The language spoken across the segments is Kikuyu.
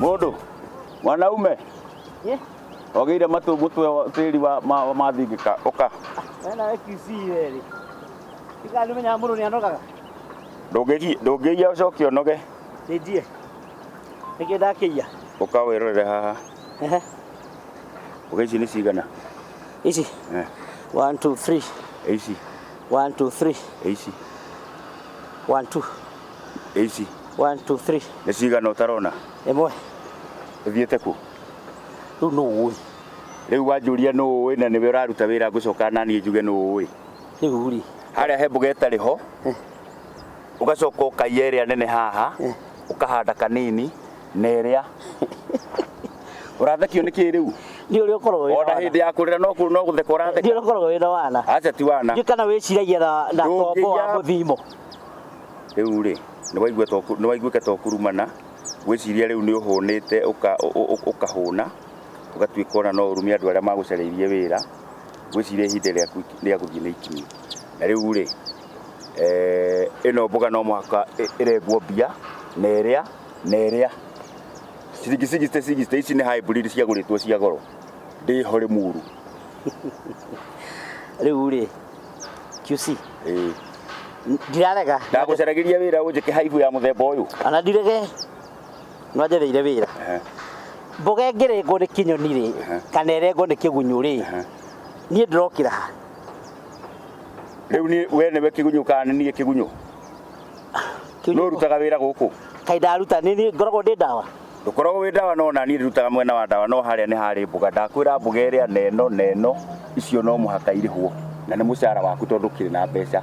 Mũndũ mwanaume Ye, ogĩire matũ mũtwe wa- tĩri wa ma- mathingĩka ũka wena we kisi weri. Tika nĩ menyaga mũndũ nĩ anogaga. Ndũngĩgi- ndũngĩiya ũcoke ũnoge Nĩnjie. Nĩkĩ ndakĩiya. ũka wĩrorere haha Ehe. Oke, ici nĩ cigana? ici Eh, one two three ĩ ici, one two three ĩ ici, one two ĩ ici. one two three Nĩ cigana ũtarona? ĩmwe Ũthiĩte kũ? rĩu nũ ũĩ Rĩu wanjũria nũ ũĩ na nĩwe ũraruta wĩra ngũcoka na niĩ njuge nũ ũĩ. rĩu rĩ Harĩa he mbuga ĩtarĩ ho, ũgacoka ũkaiya ĩrĩa nene haha, ũkahanda kanini na ĩrĩa ũrathekio nĩ kĩĩ rĩu Ndiũ ũrĩa ũkoragwo wĩna ona wana. hĩndĩ ya kũrĩra no kũ- no gũtheka Ndiũ ũratheka ũrĩa ũkoragwo wĩna wana. aca ti wana Ndiũ kana wĩciragia na na Ndũngĩiya- kombo wa mũthimo. rĩu rĩ nĩ waiguĩka ta ũkurumana gwĩciria rĩu nĩ ũhũnĩte ũka- ũ- ũ- ũ- ũkahũna ũgatuĩka ona no ũrume andũ arĩa magũcarĩirie wĩra gwĩciria ihinda rĩaku rĩa gũthiĩ nĩ ikinyu na rĩu rĩ eh, ĩno mboga no mũhaka ĩ- ĩrengwo mbia na ĩrĩa na ĩrĩa ciringi 60 60 ici nĩ hybrid ciagũrĩtwo cia goro ndĩ hore mũru rĩu rĩ QC Ĩĩ. n- ndirarega ndagũcaragĩria wĩra ũnjĩke haibu ya mũthemba ũyũ ona ndirege no njereire wĩra Ehe. mboga ĩngĩrengwo nĩ kĩnyoni rĩ Aha. kana ĩrengwo nĩ kĩgunyũ rĩ Aha. niĩ ndĩrokĩra ha rĩu niĩ- we nĩwe kĩgunyũ kana nĩ niĩ kĩgunyũ no rutaga wira guku kai ndaruta ni ngoragwo ndi ndawa ndukoragwo wi ndawa no na ni rutaga mwena wa ndawa no haria ni hari mbuga ndakwira mbuga iria neno neno icio no muhaka irihwo na ni mucara waku tondu kiri na mbeca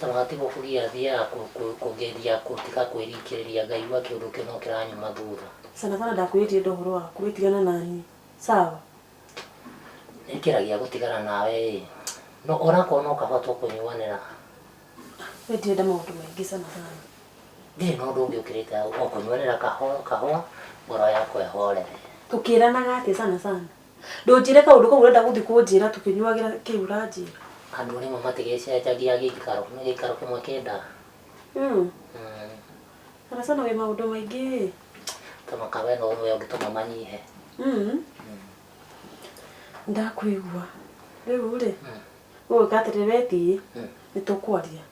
Taratibu kũgia thia ya kũgeria gũtiga kwĩrikĩrĩria Ngai gwa kĩũndũ kĩno kĩranyuma thutha. Sana sana ndakwĩrĩtie enda ũhoro waku we tigana na niĩ sawa. Nĩngeragia gũtigana nawe ĩ no onakorwo no kahũa tũkũnyuanĩra. We ndirenda maũndũ maingĩ sana sana. Ndirĩ na ũndũ ũngĩ ũkĩrĩte hau o kũnyuanĩra kahũa kahũa ngoro yakwa ĩhorere. Tũkĩranaga atĩa sana sana. Ndũnjĩre kaũndũ kau ũrenda gũthiĩ kũnjĩra tũkĩnyuagĩra kĩu ũranjĩra. Andũ nĩmo matigĩcenjagia gĩikaro, nĩ gĩikaro kĩmwe kĩendaga. Mm. Mm. Sana sana wĩ maũndũ maingĩ ĩ. Tondũ kawe no ũmwe ũngĩtũma manyihe. Mm. Ndakwĩgua. Rĩu rĩ, Mm. ũĩ atĩrĩ wethiĩ Mm. nĩ tũkwaria.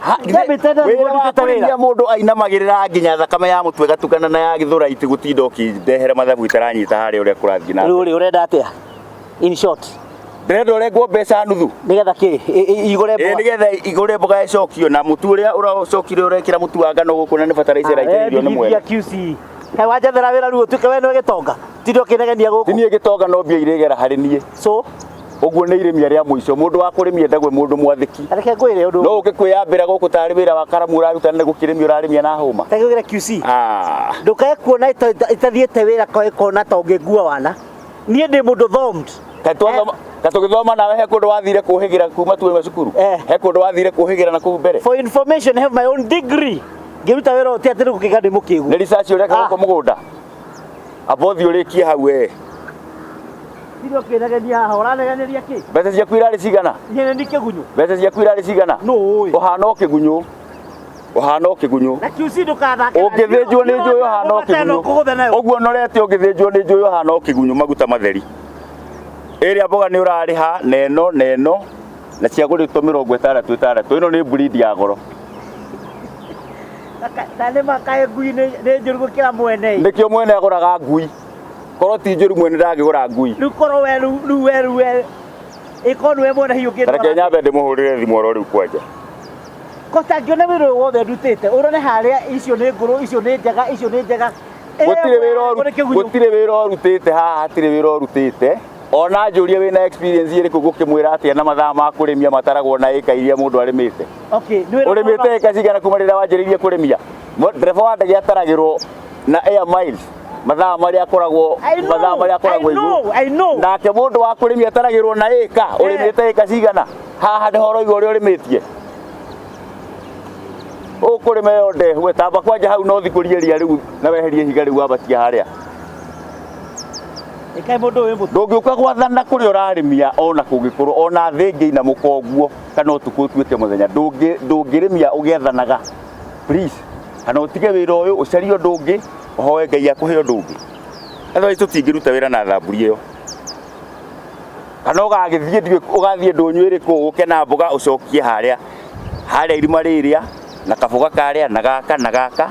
Ha, githĩ David Tedder wĩra mũndũ wa ũrutĩte wĩra? kũrĩithia mũndũ ainamagĩrĩra nginya thakame ya mũtwe gatukana na ya gĩthũra iti gũtinda ũkĩndehera mathabu itaranyita harĩa ũrĩa kũrathiĩ na rĩu rĩ ũrenda atĩa in short ndĩrenda ũrengwo mbeca nuthu nĩgetha kĩ i- i- igũre ĩĩ mboga nĩgetha igũre mboga ĩcokio na mũtu ũrĩa ũracokire ũrekĩra mũtu wa ngano gũkũ na nĩ bataraitha ĩraitĩrĩrio nĩ mwene QC he wanjathera wĩra rĩu ũtuĩke we nĩwe gĩtonga tindĩ ũkĩnegenia gũkũ niĩ gĩtonga no mbia irĩgera harĩ niĩ so Ũguo nĩ irĩmia rĩa mũico. Mũndũ wa kũrĩmia ndagwe mũndũ mwathĩki. Reke ngwĩre ũndũ. No ũngĩkwĩyambĩra gũkũ tarĩ wĩra wa karamu ũraruta nĩ gũkĩrĩmia ũrarĩmia na hũma. Reke ngwĩre QC. Ah. Ndũkae kuona itathiĩte wĩra kwa ikona ta ũngĩngua wana. Niĩ ndĩ mũndũ thomed. Katwathoma eh? ta tugithoma nawe he kundu wathire kuhigira kuma tu we cukuru eh. he kundu wathire kuhigira na kuu mbere for information have my own degree ngiruta wira uti ati rukiga ndi mukigu ni research uri ka ah. ko mugunda Abothi ũrĩkie hau we. Ndio ũkĩnegenia haha ũranegeneria kĩ? Mbeca ciaku irarĩ cigana? Ihene nĩ kĩgunyũ. Mbeca ciaku irarĩ cigana? Nũ ũĩ? Ũhana o kĩgunyũ. Ũhana o kĩgunyũ. Na QC ndũkathakĩra. Ũngĩthĩnjwo nĩ njũĩ ũhana o kĩgunyũ. Kũgũtha nayo. Ũguo norete ũngĩthĩnjwo nĩ njũĩ ũhana o kĩgunyũ maguta matheri. Ĩrĩa mboga nĩ ũrarĩha na ĩno na ĩno na ciagũrĩtwo mĩrongo ĩtandatũ ĩtandatũ. Ĩno nĩ breed ya goro. Na nĩ ma kaĩ ngui nĩ nĩ njũru gũkĩra mwene nĩkĩo mwene agũraga ngui korwo ti njũru mwene ndangĩgũra ngui rĩu korwo we rĩu rĩu we rĩu we ĩkorwo nĩwe mwene hiũ reke ũngĩtwara nyambe ndĩmũhũrĩre thimũ oro rĩu kwanja koca ngĩone wĩra ũyũ wothe ndutĩte ũrore harĩa icio nĩ ngũrũ icio nĩ njega icio nĩ njega gũtirĩ wĩra ũru- Ĩyo nĩ kĩgunyũ. gũtirĩ wĩra ũrutĩte haha hatirĩ wĩra ũrutĩte Ona njũrie wĩ na experience ĩrĩkũ gũkĩmwĩra atĩa na mathaa ma kũrĩmia mataragwo na ĩka iria mũndũ arĩmĩte Okay, nĩ wĩra ũrĩmĩte kwamba- ĩka cigana kuma rĩrĩa wanjĩrĩirie kũrĩmia Mo- ndereba wa ndege ataragĩrwo na air miles mathaa marĩa akoragwo I know, mathaa marĩa akoragwo I know, igũrũ. I know. nake mũndũ wa kũrĩmia ataragĩrwo na ĩka ũrĩmĩte ĩka cigana haha nĩ horo igũrũ ũrĩa ũrĩmĩtie ũkũrĩma ĩyo ndehu etamba kwanja hau no thikũrie ria rĩu na weherie ihiga rĩu wambatia harĩa Ndũngĩũka gwathana kũrĩa ũrarĩmia o na kũngĩkorwo o na thĩ ĩngĩina mũkonguo kana ũtukũ ũtuĩke mũthenya, ndũngĩrĩmia ũgĩathanaga please. Kana ũtige wĩra ũyũ ũcarie ũndũ ũngĩ, ũhoe Ngai akũhe ũndũ ũngĩ. Otherwise tũtingĩruta wĩra na thamburi ĩyo. Kana ũgagĩthiĩ ndiũĩ ũgathiĩ ndũnyũ ĩrĩkũ ũke na mboga ũcokie harĩa, harĩa irima rĩrĩa na kaboga karĩa na gaka na gaka.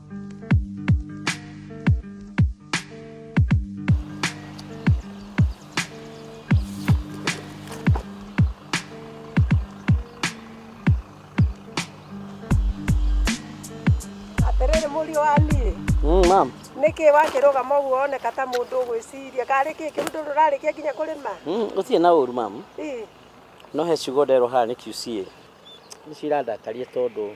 atĩrĩrĩ mũriũ wa niĩ Mm, ma'am. nĩkĩ wakĩrũgama ũguo woneka ta mũndũ ũgwĩciria karĩ kĩ kĩndũ rũrarĩkia nginya kũrĩma Mm, gũtirĩ na ũru ma'am. Ĩ, No he ciugo nderwo haha nĩ QCA. Nĩ cirandakaria tondũ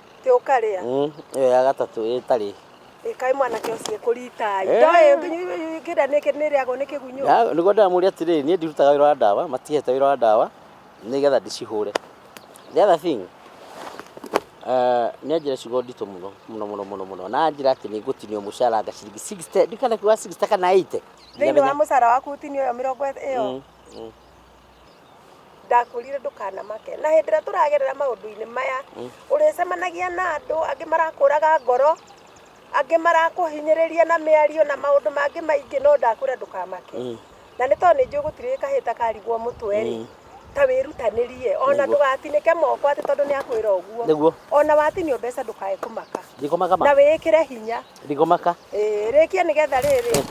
tä å karä Mm, ĩyo ya gatatũ ĩtarĩ ä kaä mwanake å ciä kå ritai Eh. ndoä kä nda nä kä nä rä agwo nä kä gunyå Ya, nĩguo ndĩramũria atĩrĩrĩ niĩ ndirutaga wĩra wa ndawa matihete wĩra wa ndawa nĩgetha ndĩcihũre the other thing uh, nĩ anjĩra ciugo nditũ mũno mũno mũno mũno mũno na anjĩra atĩ nĩ ngũtinio mũcara nga ciringi 60 ndikana kiuga 60 kana 80 thä inä wa må cara waku å tinio ä yo mä rongo ä yo Mm, mm. ndakwĩrire ndũkanamake na hĩndĩ ĩrĩa tũragerera maũndũ-inĩ maya ũrĩcemanagia na andũ angĩ marakũraga ngoro angĩ marakũhinyĩrĩria na mĩario na maũndũ mangĩ maingĩ no ndakwĩra ndũkamake na nĩ tondũ nĩ njũĩ gũtirĩ kahĩta karigwo mũtwe rĩ ta wĩrutanĩrie ona Nĩguo. ndũgatinĩke moko atĩ tondũ nĩ akwĩra ũguo nĩguo ona watinio mbeca ndũkae kũmaka ndikũmaka na ma wĩĩkĩre hinya Ndigomaka. Ĩĩ, rĩkia nĩgetha rĩrĩ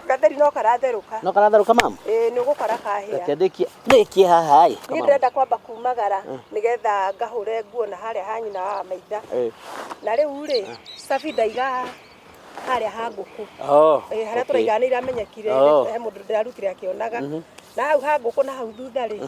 gatheri no karatherũka No karatherũka mama? Ĩĩ, nĩ ũgũkora kahĩa Reke ndĩkie. Ndĩkie haha ĩ. niĩ ndĩrenda kwamba kumagara nĩgetha ngahũre nguo na harĩa ha nyina wa maitha Ĩĩ. na rĩu rĩ cabi ndaiga harĩa ha ngũkũ Oh. Eh, harĩa okay. tũraiga nĩ iramenyekire Oh. he mũndũ ndĩrarutire akĩonaga na hau ha ngũkũ na hau thutha rĩ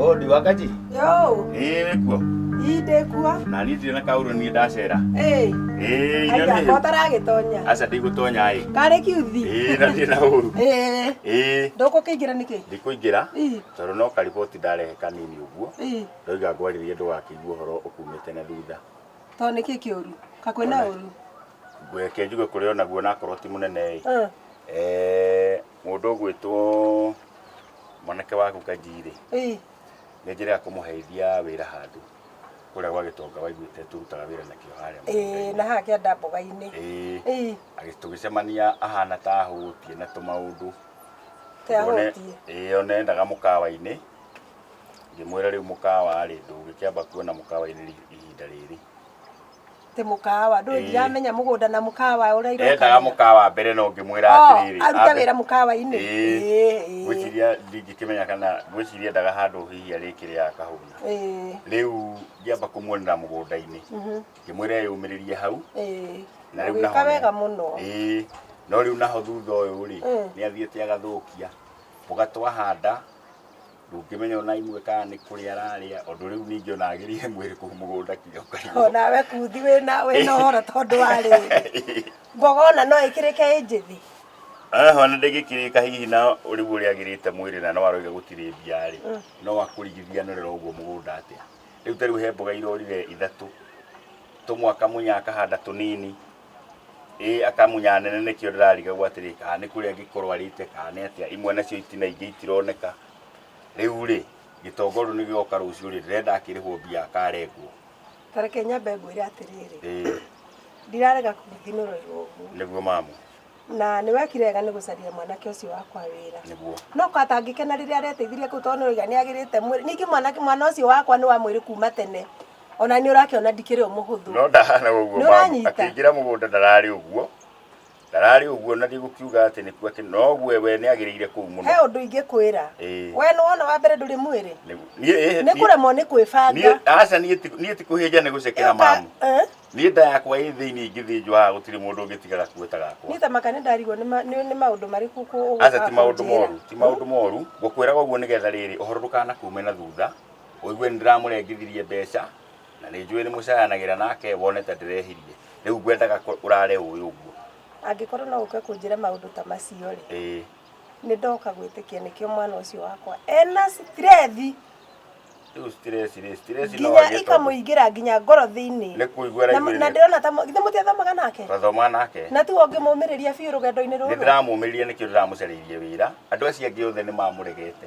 Oh, ndi wakati Yo, ĩĩ kuo inde kuo. na niĩ ndirĩ na kaũrũ niĩ ndacera Ĩĩ, ĩĩ aida nyone kotaragĩtonya. aca ndigũtonya ĩ Karĩ kiuthi. ĩĩ na ndirĩ na ũru Ĩĩ, ĩĩ ndũkũkĩingĩra nĩkĩ? ndikũingĩra Ĩĩ, tondũ no kariboti ndarehe kanini ũguo ĩĩ, ndoiga ngwarĩrie ndũgakĩigua ũhoro ũkumĩte na thutha to nĩkĩ kĩũru? Kakwĩ na ũru. ngweke njuge kũrĩ onaguo nakorwo ti mũnene ĩ Eh, Eh, Mũndũ ũgwĩtwo mwanake waku Kanji-rĩ, Ĩĩ. nĩ njĩra ya kũmũheithia wĩra handũ kũrĩa gwa gĩtonga waiguĩte tũrutaga wĩra nakĩo harĩa Ĩĩ, mũgũnda-inĩ. na haha kĩanda mboga-inĩ. Ĩĩ. Ĩĩ. Agĩ- tũgĩcemania ahana ta ahũtie na tũmaũndũ Ta Ũguo ne- ahũtie. ĩĩ, ona endaga mũkawa-inĩ ngĩmwĩra rĩu mũkawa-rĩ ndũngĩkĩamba kuona mũkawa-inĩ ri- ihinda rĩrĩ Tĩ mũkawa. Ndũĩ Ĩĩ. ndiramenya mũgũnda na mũkawa ũrĩa iroka. endaga mũkawa mbere no ngĩmwĩra Oh, atĩrĩrĩ aruta ambe- wĩra mũkawa-inĩ. Ĩĩ. Ĩĩ, ĩĩ. ngwĩciria ndingĩkĩmenya kana ngwĩciria endaga handũ hihi arĩkĩrĩ akahũna Ĩĩ. rĩu ngĩamba kũmuonera mũgũnda-inĩ Mhm. ngĩmwĩra eyũmĩrĩrie hau Ĩĩ. na rĩu Ũgĩka naho- wega mũno. Ĩĩ. no rĩu naho thutha ũyũ rĩ Mm. nĩ athiĩte agathũkia mũgatwahanda ndũngĩmenya ona imwe kana nĩ kũrĩa ararĩa ũndũ rĩu ningĩ ona agĩrĩhe mwĩrĩ kũu mũgũnda kinya ũkarigwo onawe kuthi wĩna wĩna ũhoro tondũ wa rĩrĩ mboga ona no ĩkĩrĩke ĩ njĩthĩ Eh, ona ndĩngĩkĩrĩka hihi na ũrĩu ũrĩa agĩrĩte mwĩrĩ na no aroiga gũtirĩ mbia-rĩ no akũrigithianĩrĩra ũguo mũgũnda atĩa rĩu ta rĩu he mboga irorire ithatũ tũmwaka mũnya akahanda tũnini ĩ akamunya nene nĩkĩo ndĩrarigagwo atĩrĩ kana nĩ kũrĩa angĩkorwo arĩte kana nĩ atĩa imwe nacio itina ingĩ itironeka rĩu rĩ gĩtongoru nĩ gĩoka rũciũ rĩ ndĩrenda akĩrĩhwo mbia akarengwo tareke nyambe ngwĩre atĩrĩrĩ ĩ ndirarega kũgũthinũrĩrwo ũguo nĩguo mamu na nĩ wekire wega nĩ gũcaria mwanake ũcio wakwa wĩra nĩguo no katangĩkena rĩrĩa areteithirie kũu tondũ nĩoiga nĩ agĩrĩte mwĩrĩ ningĩ mwanake mwana ũcio wakwa nĩ wa mwĩrĩ kuma tene ona nĩ ũrakĩona ndikĩrĩ o mũhũthũ no ndahana ũguo Nĩ mamu ũranyita? akĩingĩra mũgũnda ndararĩ ũguo ndararĩ ũguo na ndigũkiuga atĩ nĩkuo atĩ noguo we nĩ agĩrĩire kũu mũno he ũndũ ingĩkwĩra Ĩĩ. we nĩ wona wa mbere ndũrĩ mwĩrĩ Nĩ- niĩ- ĩĩ- nĩ niĩ- kũremwo nĩ kwĩbanga niĩ- aca niĩ ti- niĩ ti kũhĩnja nĩ gũcekera Ĩyo ka- mamu Eh? niĩ nda yakwa ĩ thĩinĩ ingĩthĩnjwo haha gũtirĩ mũndũ ũngĩtigara kuo ta gakwa niĩ ta maka nĩ ndarigwo nĩ ma- nĩ nĩ maũndũ marĩkũ kũ- aca ti maũndũ ũgũka moru kũnjĩra. ti maũndũ moru ngũkwĩraga ũguo nĩgetha rĩrĩ ũhoro ndũkanakuume na thutha ũigue nĩ ndĩramũrengithirie mbeca na nĩ njũĩ nĩ mũcayanagĩra nake wone ta ndĩrehirie rĩu ngwendaga kũ- ũrare ũĩ ũguo angĩkorwo no ũke kũnjĩra maũndũ ta macio rĩ ĩĩ nĩ ndoka gwĩtĩkia nĩkĩo mwana ũcio wakwa ena stress rĩu stress rĩ stress no nginya agĩe tondũ ikamũingĩra nginya ngoro thĩinĩ nĩ kũigua Na- na araigua ndĩrona ta githĩ mũtiathomaga nake twathoma nake na tiwe ũngĩmũmĩrĩria biũ rũgendo-inĩ nĩ rũrũ ndĩramũmĩrire nĩkĩo ndĩramũcarĩirie wĩra andũ acio angĩ othe nĩ mamũregete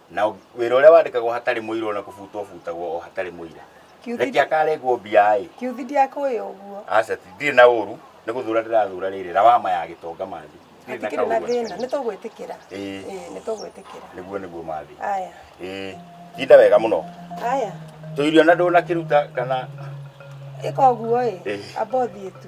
na wĩra ũrĩa wandĩkagwo hatarĩ mũira ona kũbutwo butagwo o hatarĩ mũira reke akarengwo mbia-ĩ kiuthi ndiakũĩ ũguo aca ti- ndirĩ na ũru nĩ gũthura ndĩrathura rĩrĩ rawama ya gĩtonga mathi Ndirĩ na hatikĩrĩ na kaũru thĩna hatarĩ. nĩ tũgwĩtĩkĩra Ĩĩ. Ĩĩ, nĩ tũgwĩtĩkĩra nĩguo nĩguo mathi aya Ĩĩ, tinda wega mũno aya tũirio na ndũnakĩruta kana ĩka ũguo ĩ Ĩĩ. amba ũthiĩ tu